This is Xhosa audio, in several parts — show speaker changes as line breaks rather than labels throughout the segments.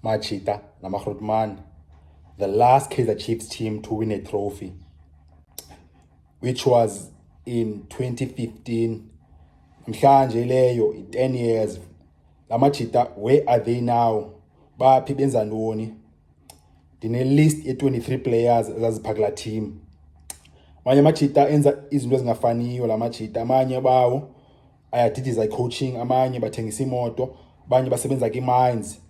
Machita namaRhutman, the last Kaizer Chiefs team to win a trophy, which was in 2015. Mhlanje leyo 10 years. La Machita, where are they now? Baphi benza ntoni? ndine-list ye-23 players ezaziphaka kulaa team amanye amajita enza izinto ezingafaniyo la majita amanye bawo ayadidiza i-coaching amanye bathengisa iimoto abanye basebenza kwi-mines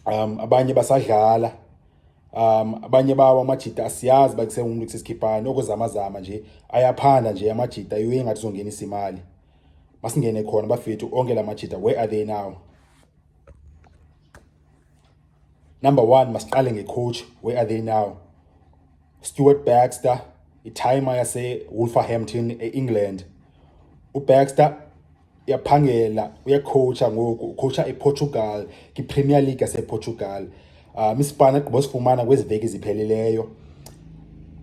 um abanye basadlala um abanye bawo amajita asiyazi uba kusengumntu kusesikhiphani okuzamazama nje ayaphanda nje amajita iwe ingathi uzongenisa imali masingene khona bafethu onke la majita where are they now Number one, masiqale ngecoach. Where are they now? Stuart Baxter, itimer yasewolverhampton e-england ubaxter uyaphangela uyakhowutsha ngoku ukhowutsha eportugal kwipremier league yaseportugal um isipani agqiba sifumana kwezi veki ziphelileyo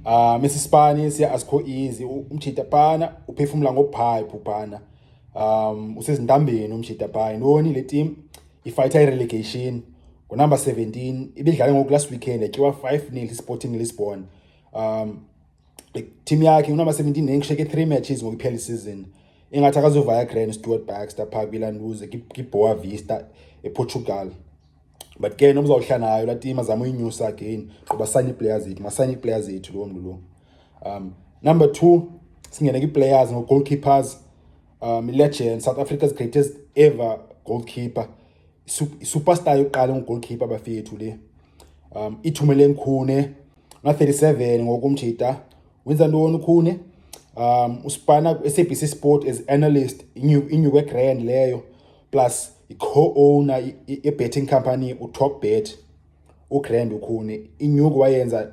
um isisipani siya asikho easy umjita pana uphefumla ngophayiphu pana um usezintambeni umjita phaa yintoni le tim ifayitha irelegation ngonumber 17 ibidlale ngoku last weekend yatyiwa 5 nil isporting lisbon um team yakhe unumber 17 nengisheke three matches ngokuphela isizini ingathi akazovaya grand stewart baxter phaa kwilanduze kiboa vista eportugal but ke nomzawuhla nayo laa tim azama uyinyusa again qoba sanye iiplayer zethu masanye iiplayer zethu loo mntu lo um number two singene kwiiplayers ngoo-goalkeepers um ilegend south africa's greatest ever goalkeeper isuperstar yokuqala ungugoalkeeper bafethu le um ithumele ngikhune nga-37 ngoku mjita wenza ntoni ukhune um usipana kwi-sabc sport as analyst inyuke grand leyo plus i-co-owner ye-betting company utop bet ugrand ukhune inyuku wayenza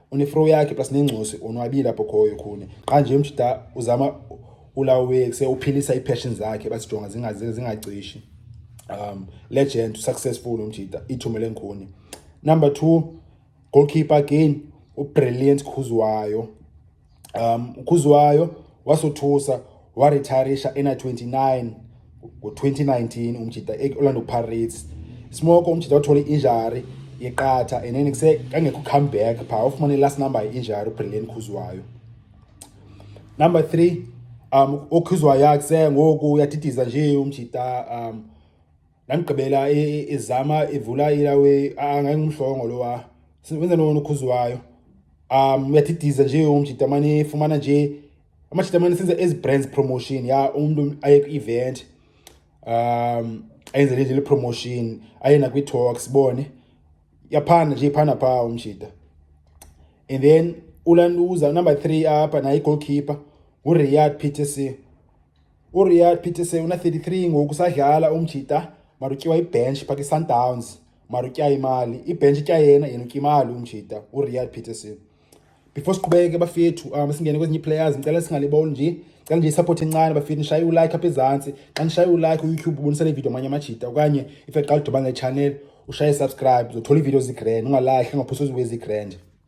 unefro yakhe plus nengcosi onwabile apho khoyo khuni xa nje mjita uzama ulawe se uphilisa ipassion zakhe basijonga zingaze zingacishi um legend successful umjita ithumele ngikhuni number 2 goalkeeper again ubrilliant khuzwayo um ukhuzwayo wasothusa waretirisha ena-29 ngo-2019 umjita e-orlando pirates smoko umjita wathola i-injari yeqatha and then kuse kangekho comeback phaa ufumane i-last number ye-injari ubrilliant khuzwayo number three um okhuzwayo yakuse ngoku uyadidiza nje umjita um Ndamgqibela e, e, ezama evula ilawe angayingumhlongo lowa. Wenza nono ukhuziwayo. Um uyathidisa nje umjita mane fumana nje amajita mane senza ezi brands promotion ya umuntu aye ku event. Um ayenze nje le promotion ayena kwi talks bone. Yaphana nje phana pha umjita. And then ulanduza number 3 apha naye goalkeeper uRiyad Peterson. URiya Pitese una-33 ngoku usadlala umjita marutyiwa ibench phake isundowns marutya imali ibench itya yena yena utya imali umjita uriad peterson before siqhubeke bafethu um singene kwezinye iplayers ndicela singaliboni nje cela nje isapoti encane bafethu nishaye ulike apha ezantsi xa nishaye ulike uyoutube ubonisa le video amanye amajita okanye if eqala udibana nechannel ushaye subscribe uzothola iividiyo zigrand ungalahle ungaphosi oziwe zigrand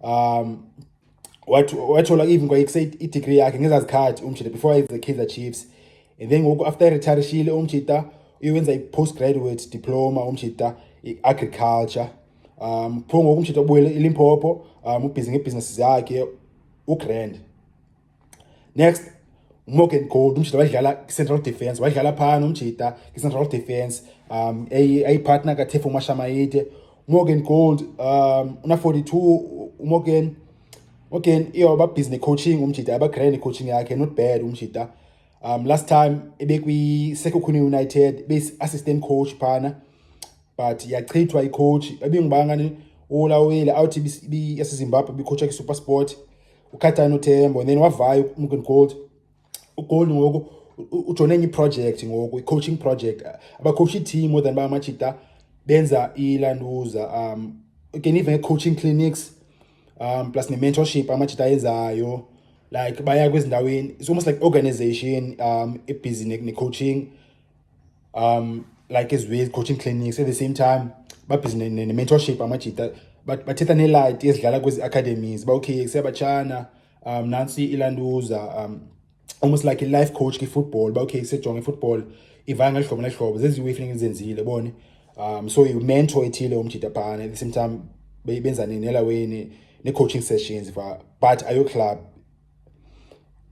um wathola even kwayekuse idegree yakhe ngezaa zikhathi umjita before ayenze kaizer chiefs and then ngoku after eretirishile umjita uyowenza i-post graduate diploma umjita i-agriculture um pho ngoku umjita ubuyele ilimpopo um ubhizi ngeebhizinesi zakhe ugrand next umorgan gold umjita wadlala kwi-central defence wadlala phana umjita kwi-central defence um ayipartner katefo mashamayide umorgan gold um una-42 umorgan morgan iyo babhizi ne-coaching umjita abagraya ne-coaching yakhe not bad umjita um last time ebekwi-sekokhuni united beyi-assistant coach phana but yachithwa icoach babingubangani olawile awuthi yasezimbabwe bikhotsha kwi-super sport ukhathani uthembo and then wavayo umken gold ugold ngoku ujone enye iproject ngoku i-coaching project abakhowusha i-team more than bamajita benza ilanduza um again even coaching clinics um plus ne-mentorship amajita ayenzayo like baya kwezindaweni it's almost like organization um ebhizi ne-coaching ne um like as with coaching clinics at the same time babhizi ne-mentorship amajita bathetha nelight ezidlala kwezi academies uba okay seyabatshana um nantsi ilanduza um almost like i-life coach kwi-football uba okay sejonge i-football ivaya ngeli hlobo neli hlobo zeziwe ifuneka ndizenzile bone um so yimentor ethile umjita phana at the same time benza nelaweni ne-coaching sessions but ayoclub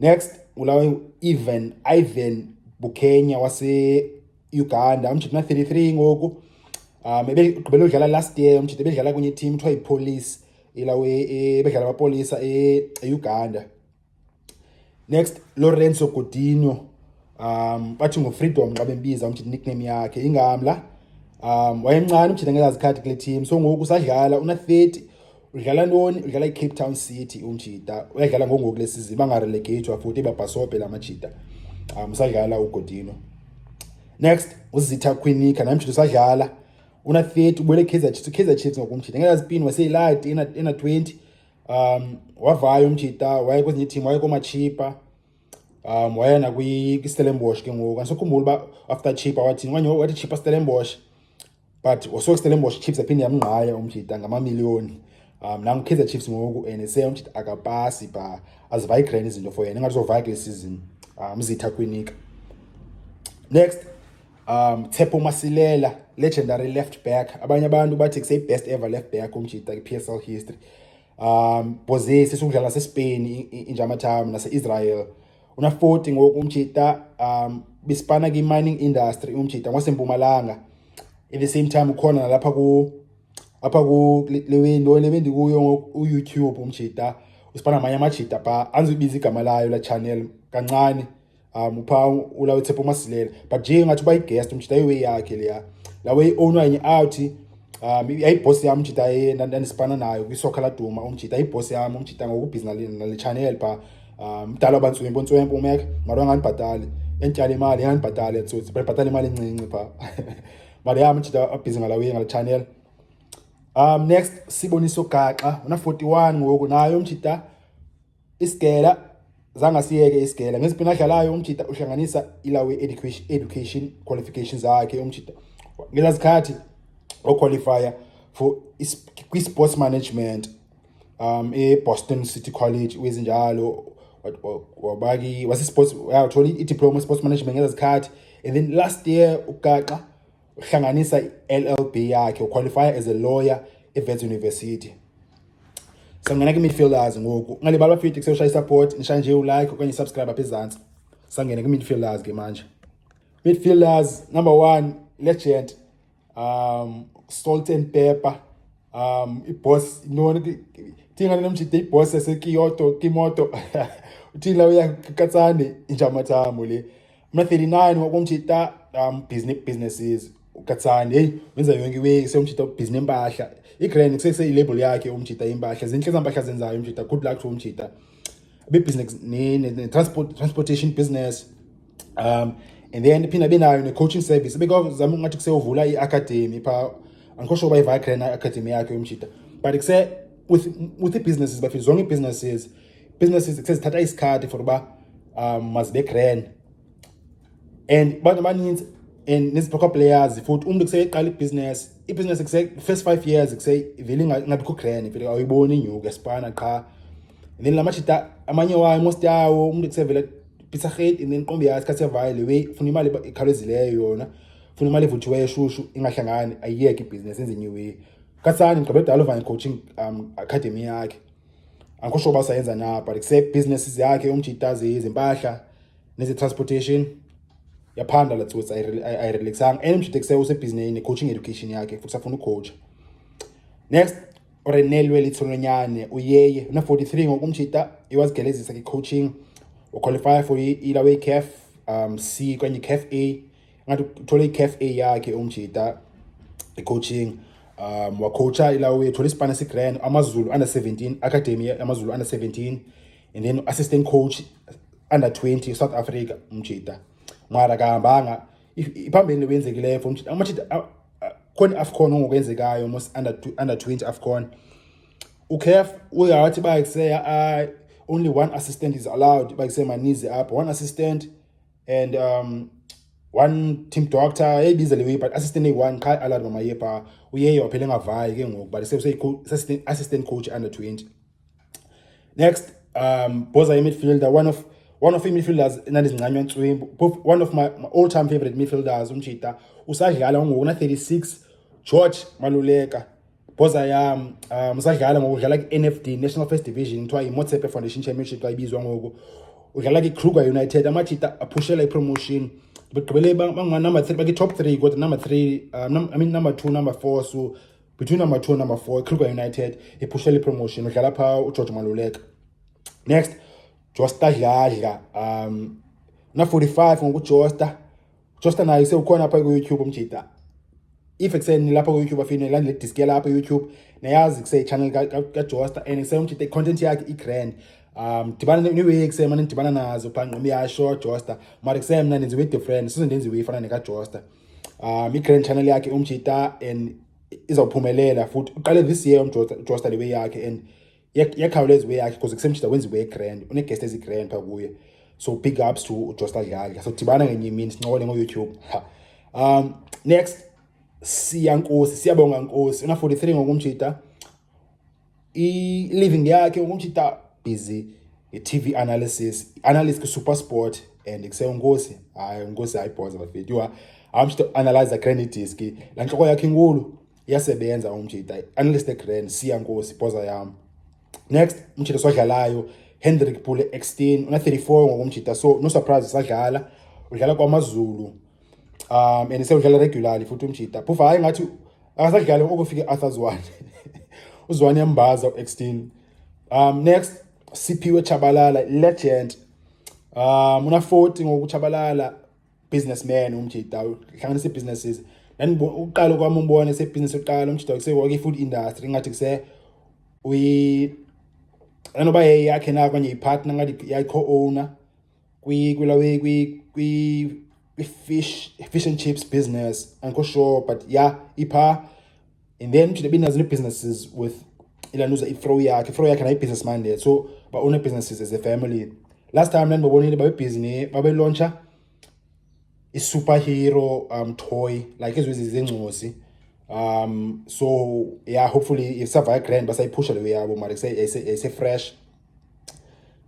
Next ulawa Ivan Ivan Bukenya wase Uganda umjita na 33 ngoku um ebegqibele udlala last year umjita ebedlala kunye team kuthiwa yipolice ilawe e, ebedlala amapolisa e-uganda e next lorenzo godino um bathi ngufreedom xa bembiza umjita nickname yakhe ingamla um wayemncane umjita ngezazikhathi kule team so ngoku usadlala una-30 udlala ntoni udlala icape town city umjita uyadlala ngongoku le sizini bangarelegatwa futhi babhasobhe la majita um usadlala ugodino next uzitha quinika namjita usadlala una-30 ubuyele ikaizer chiefs ikaizer chiefs ngokumjita ngenazipin waseyilati ena-20 um wavaya umjita waye kwezinye itim waye koomachipa um waya nakwistellenbosh ke ngoku andisokhumbula uba after chipa wathini okanye wathi chipa stellenbosh but wasoke stellenbosch chiefs aphinde yamngqaya umjita ngamamiliyoni um nangu kaizer chiefs ngoku and se umjita akapasi ba azivayigreni izinto for yena ingathi uzovaya kule season um zitha kwinika next um tshepo masilela legendary left back abanye abantu bathi kuseyibest ever left back umjita kwi-p s l history um bozesi sukudlala sespain injamathamu nase-israel Una-40 ngoku umjita um bisipana kwi-mining industry umjita ngwasempumalanga at the same time ukhona nalapha ku apha ku le window le bendikuyo ngoku uyoutube umjita usipana amanye amajita pha andizubiza igama layo la channel kancane um upha ula wethepha umasilela but nje ngathi uba yiguest umjita iway yakhe leya la way i-ownwa yenye out um yayibhosi yam umjita ndandisipana nayo kwisokha laduma umjita yibhosi yam umjita ngokubhizi nale chanel phaa um mdala uba ntswempu ntswempu umeke mara angandibhatali endityala imali ingandibhatali etsotsi bayibhatala imali encinci phaa mara yam umjita abhizi ngalawiye ngale chanel um next siboniso gaxa una-forty-one ngoku nayo umjita Isigela zange siyeke isigela ngeziphi nadlalayo umjita uhlanganisa ilawe education education qualifications zakhe umjita ngeza zikhathi oqualifier for kwi-sports management um e-boston city college wezinjalo wabaki wase-sports yathola i-diploma sports management ngeza zikhathi and then last year ugaxa uhlanganisa i-LLB yakhe uqualifya as a lawyer eVets University. Sangena kwi-midfielders ngoku. Ungalibali bafiti kusewushaya i-support, nishaye nje ulike okanye i-subscribe apha ezantsi. Sangena kwi-midfielders ke manje. Midfielders number one legend um Salt and Pepper um iboss intoni thinga nomjide iboss yasekiyoto kimoto uthini lawo yakatsane injamathambo le Mna 39 wakumtshita um business businesses ukatsani hey wenza yonke iweki seyomjita ubhizinisi impahla igrand kuseseyilabel yakhe umjita impahla zintle zampahla zenzayo umjita good luck to umjita bebusiness ne-transport transportation business um and then phinde benayo ne-coaching service bekazama ungathi kuseyovula i-academy phaa andikho sure uba ivagrand academy yakhe umjita but kuse with, with i-businesses bafile zonke ii-businesses businesses sezithatha isikhathi for uba um mazibe grand and abantu abaninzi and neziphakwa players futhi umntu kuseyeqala ibhiziness ibhiziness kuse-first five years kusevele ingabikho grand vele awuyiboni inyuka esipana qha and then la majita amanye wayo most yawo umntu kusevele pizza hate and then qombi yayo isikhathi sevayo le way funa imali ekhawulezileyo yona funa imali evuthiweyo eshushu ingahlangani ayiyeke ibhiziness enze new way kasani ngigqibe dala uvanye coaching um academy yakhe akho sho uba sayenza na but except businesses yakhe umjitazi izimpahla neze-transportation yaphanda la tsotsi ayirelaxanga and umjita kuse usebhizineni ne-coaching education yakhe futhi safuna ucoacha next orenelwe litholonyane uyeye una-43 ngoku umjita iwazigelezisa ke-coaching uqualifya for ilawe-caf um c kanye caf a ngathi uthole i-caf a yakhe umjita i-coaching um wacoacha ilawe thola isipana sigrand amazulu under 17 academy amazulu under 17 and then assistant coach under 20 south africa umjita mara kahambanga iphambili wenzekileyo for umjita amajita khona i-afcon ongokwenzekayo mos under, under 20 afcon ucaf uyawathi bayiseya only one assistant is allowed bayiseya manizi apho one assistant and um, one team doctor eyibiza le way but assistant eyi-one qha alad mamaye phaa uyeye waphela engavayi ke ngoku but seassistant coach under 20 next um boza imidfielder one of one of imidfielders enandizincanywa ntswimbu one of my, my all time favorite midfielders umtshita usadlala ungoku na-36 george maluleka Boza ya um, um, usadlala ngoku udlala kwi-NFD National First Division kuthiwa yiMotsepe Foundation Championship xa ibizwa ngoku udlala kwiKruger United amajita aphushela ipromotion begqibele bangunumber three bakwi-top three kodwa number three um, I mean number two number four so between number two number four ikruger united iphushela ipromotion udlala phaa ugeorge maluleka next josta dladla um na-45 ngokujosta Josta nayo sewukhona apha kuYouTube umjita. If ekuseni lapha kuYouTube afine ilandele disk yalapha kuYouTube nayazi kuse channel kaJosta and sewumjita i-content yakhe i-grand. Um dibana neweek sema nidibana nazo pha ngqomi yasho Josta. Mara kusemna nenziwe different sizo ndenziwe ifana nekaJosta. Um i-grand channel yakhe umjita and izawuphumelela futhi uqale this year umJosta lewe yakhe and yakhawuleza iwe yakhe because kusemjita wenza iwe grand uneguest ezigrand phaa kuye so big ups to ujosta dladla so dibana ngenye imini sincokole ngoyoutube um next siya nkosi siyabonga nkosi una-43 ngokumjita i-living yakhe ukumjita busy i-tv analysis analyst kwi-super sport and kuse unkosi hayi unkosi hayi bhoza bafethu yho amshita analyze a credit disk la ntloko yakhe inkulu iyasebenza umjita unless the grand siya nkosi poza yam next umjita swadlalayo hendrik pule extin una-34 ngokomjita so no surprise sadlala udlala kwamazulu um and sewudlala regularly futhi umjita phofu hayi ngathi akasadlali okufike arthur zwane uzwane yambaza u-extin um next siphiwe chabalala legend um una-40 ngokuchabalala businessman umjita uhlanganisa ii-businesses uqala kwam umbona sebhizinesi yokuqala umjita kusework i-food industry ingathi kuse anoba yeyakhe na okanye yipartner ngathi yayi-co-owner kwilawe kwi-fish fish and chips business andikho sure but ya yeah, iphaa and then uthi lebi nazo businesses with ilanuza ifro yakhe ifro yakhe nayi business minded so ba own businesses as a family last time then babonile babe busy ne babe launcher i superhero um toy like izo izingcosi um so yeah hopefully if survive grand basayiphusha leyo yabo mara ise fresh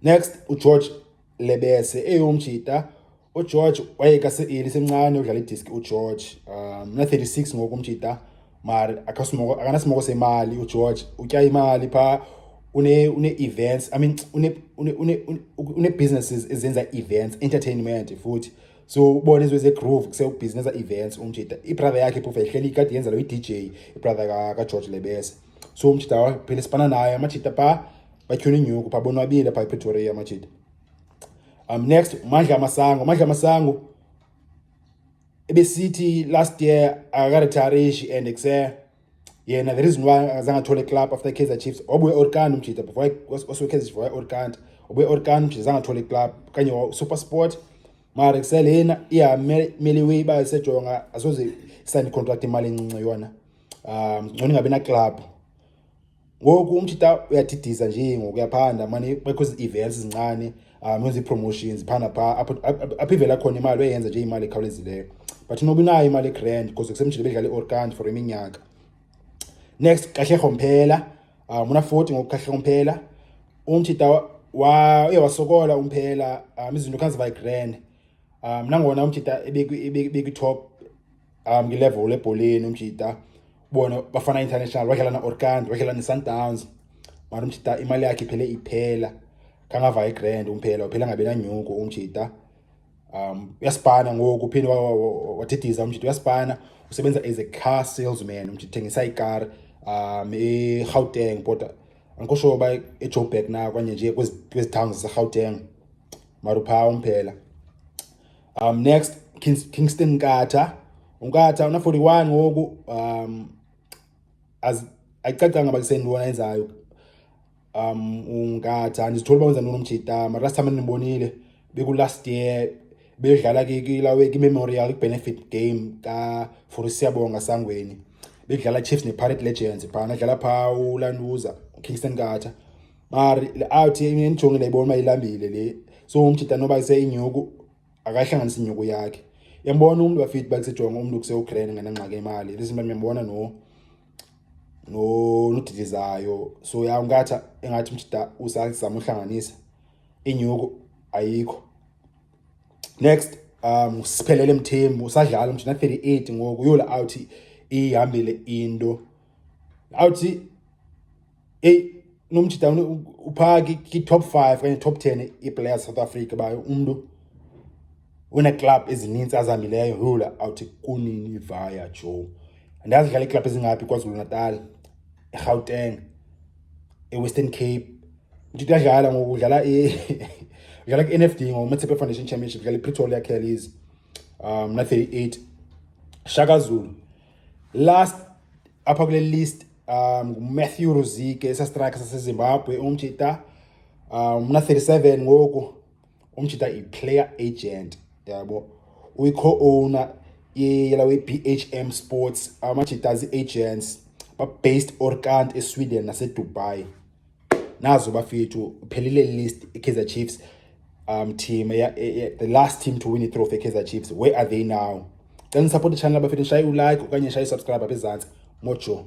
next ugeorge lebese eyomjita ugeorge wayeka seeli semncane udlala idiski ugeorge um mna 36 ngoku umjita mari akanasimoko semali ugeorge utya imali phaa une-events i mean une-businesses ezenza events entertainment futhi so ubona izinto zegroove kusewubhizinisa events umjida ibrother yakhe phofu yayihleli kade yenza lo i-dj ibrother kageorge lebese so umjida waphela sibana naye amajida phaa batyhuna inyuku phaa bonwabile phaa epretoria amajida Um, next Mandla Masango. Mandla Masango ebesithi last year akaretarishi and ekuse yena the reason why akazange athole club after Kaizer Chiefs wabuye Orkand umjita before osuke Kaizer Chiefs waye Orkand wabuye Orkand umjita zange athole club kanye wa Super Sport mara kuselena iyamele way iba isejonga asoze sign contract imali encinci yona um ngcono ingabi na club ngoku umthi ta uyadidiza nje ngoku uyaphanda mane bekho ezi-events zincane um wenza ii-promotions phanda phaa apho apho ivela khona imali uyayenza nje imali ekhawulezileyo but noba unayo imali egrand because kusemjile bedlala i-orkand for iminyaka next kahle rhomphela um unaforty ngoku kahle rhomphela umthi ta uye wasokola umphela um izinto khazivayigrand um nangona umthi ta ebekwi-top um ngilevel lebholeni umjita bona bafana international wadlala na-orkand wadlala ne-sundowns mara umjita imali yakhe iphele iphela kangava igrand umphela uphela ngabe nanyuko umjita um uyasibhana ngoku uphinde wadidiza umjita uyasibhana usebenza as a car salesman umjita thengisa ikar um egauteng kodwa angikho sure uba ejoburg na kwanye nje kwezi towns zasegauteng mara uphaa umphela Um, next Kingston Nkatha. UNkatha una 41 ngoku um as ayicacanga bakiseni lona enzayo. Um uNkatha ndizithola uba wenza ntoni umjita mara last time ndinibonile beku last year bedlala kilawe ki-memorial benefit game ka for siyabonga sangweni bedlala chiefs ne-pirate legends phana dlala phaa ulanduza ukingston kata mari awuthi endijonge ndayibona uba ilambile le so umjita noba iseyinyuku akayihlanganisi inyuku yakhe yambona umntu wafithi bakusejonga umntu kusewugrand ngenangxaki imali lizinto ndiyambona no nodilizayo so ya ungathi engathi umjita usazama uhlanganisa inyuku ayikho next um siphelele mthembu usadlala umjita 38 ngoku yola awuthi ihambile into awuthi eyi unomjita uphaa ki-top five okanye top ten iiplayers south africa bayo umntu uneeklabhu ezininzi azihambileyo hula awuthi kunini vaya jo ndazidlala iiklabhu ezingaphi kwazulu natal erhawuteng ewestern cape ndithi uyadlala ngoku udlala udlala ku-n f d ngomatsephe foundation championship udlala ipretoria kellies um na-thirty eight shaka zulu Last apha kule list um nguMatthew Ruzike esastrike saseZimbabwe umjita um mna 37 ngoku umjita i-player agent yabo uyi-co-owner yela we-bhm sports amajita zi-agents ba-based orkant esweden nasedubai nazo bafethu uphelile list ikaizer chiefs um team e, e, the last team to win itrophy ekaizer chiefs where are they now cela nisapote channel bafethu shaye ulike okanye shaye usubscribe apha ezantsi mojo